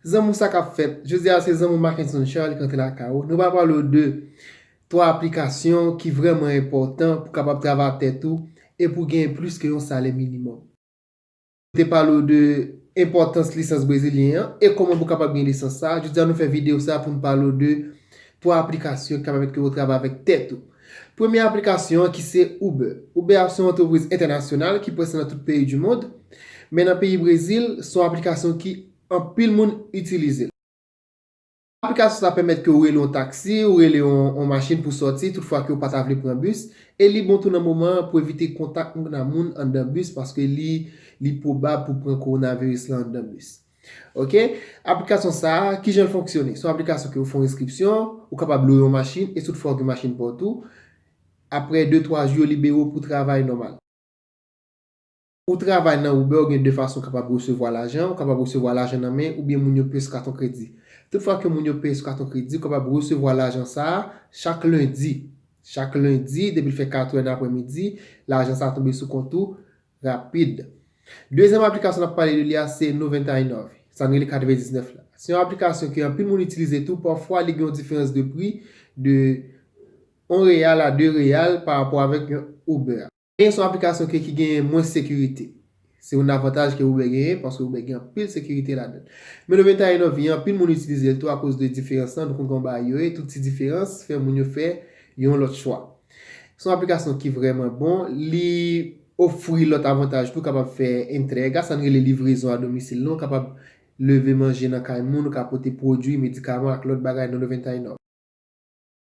Zanmu sa kap fèt. Jodi a se zanmu Mackenson Charles ki antre lakay ou. Nou pral pale w de 3 aplikasyon ki vrèman enpòtan pou kapab travay ak tèt ou e pou genyen plis ke yon salè minimòm. Nou te pale w de enpòtans lisans brezilyen an e kòman pou kapab gen lisans sa a. Jodi a nou fè videyo sa pou nou pale w de 3 aplikasyon ki ka pèmèt ke ou travay avèk tèt ou. Premye aplikasyon an ki se Uber. Uber ap se yon antrepriz entènasyonal ki prèske nan tout peyi du mond. Men nan peyi Brezil, se yon aplikasyon ki Anpil moun itilize l. Aplikasyon sa pèmèt ke w rele yon taksi, ou rele yon machin pou sòti tout fwa ke w pa ta vle pran bis. E li bon tou nan moman an pou evite kontak moun a moun anndan bis paske li li pwobab pou pran kowonaviris lan anndan bis. Ok. Aplikasyon sa, kijan l fonksyone? Se yon aplikasyon ke ou fè yon enskripsyon, ou kapab lwe yon machin e tout fwa ou gen machin pa w tou. Aprè de twa jou yo libere w pou travay nòmal. Ou travay nan Uber ou gen 2 fason ou kapab resevwa lajan, ou kapab resevwa lajan nan men oubyen moun yo peye sou katon kredi. Tout fwa ke moun yo peye sou katon kredi ou kapab resevwa lajan sa a chak lendi. Chak lendi depi l fè 4 è nan aprè midi lajan sa a tonbe sou kont ou rapid. Dezyèm aplikasyon n ap pale de li a se Noventainov, sa n rele kat vè 19 la. Se yon aplikasyon ke anpil moun itilize tou pafwa li gen yon diferans de pri de 1 real a 2 real pa rapò avèk yon Uber. Gen sou aplikasyon ke ki genyen mwens sekirite. Se youn avantaj ke Uber genyen paske Uber gen anpil sekirite ladann. Men nou vin ta ye nan vi an, anpil moun itilize l tou akoz de diferans lan, nou konn kòman bagay yo ye, tout ti diferans fè moun yo fè yon lòt chwa. Se yon aplikasyon ki vrèman bon, li ofri lòt avantaj tou, kapab fè entrega, sa n rele livrezon a domisil lan, ou kapab leve manje nan kay moun, ou ka pote pwodui, medikaman ak lòt bagay nan Levantine.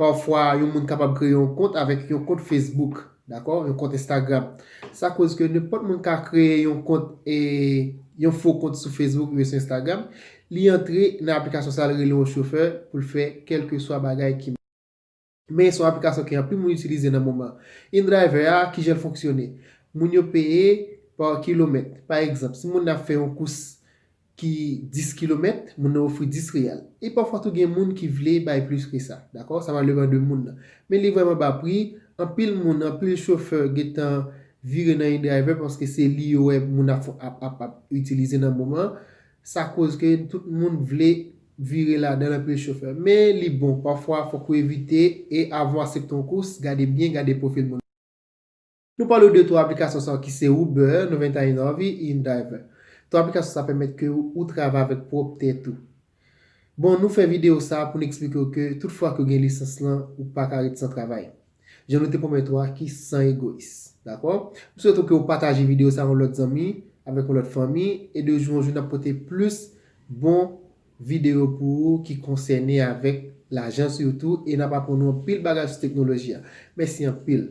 Pafwa, yon moun kapab kreye yon kont avèk yon kont Facebook, dakò, yon kont Instagram. Sa koz ke nenpòt moun ka kreye yon kont, yon fo kont sou Facebook oubyen sou Instagram, li antre nan aplikasyon sa li rele yon chofè pou l fè kèlkeswa bagay ki. Men se yon aplikasyon ke anpil moun itilize nan moman. InDriver a, ki jan l fonksyone? Moun yo peye pa kilomèt. Pa egzanp, si moun nan ap fè yon kous ki 10 kilomèt, moun nan ofri 10 riyal. E pafwa tou gen moun ki vle bay plis ke sa. Dakò? Sa va depan de moun nan. Men li vrèman ba pri, anpil moun, anpil chofè gentan vire nan indriver paske se li yo wè moun ap ap ap itilize nan moman an. Sa koz ke tout moun vle vire ladan l anpil chofè. Men li bon, pafwa fòk ou evite e avan w asepte yon kous, gade byen, gade pwofil moun nan. Nou pale w de 3 aplikasyon sa yo ki se Uber, 99 e InDriver. 3 aplikasyon sa pèmèt ke ou travay avèk pwòp tèt ou. Bon, nou fè videyo sa pou n eksplike w ke tout fwa ke w gen lisans lan, ou pa ka ret san travay. Jan nou te pwomèt ou a ki san egoyis. Dakò? M swete w ke w pataje videyo sa yon lòt zanmi, avèk yon lòt fanmi e de jou an jou n ap pote plis bon videyo pou ou ki konsène avèk lajan sitou e n ap aprann ou anpil bagay sou teknoloji a. Mèsi anpil!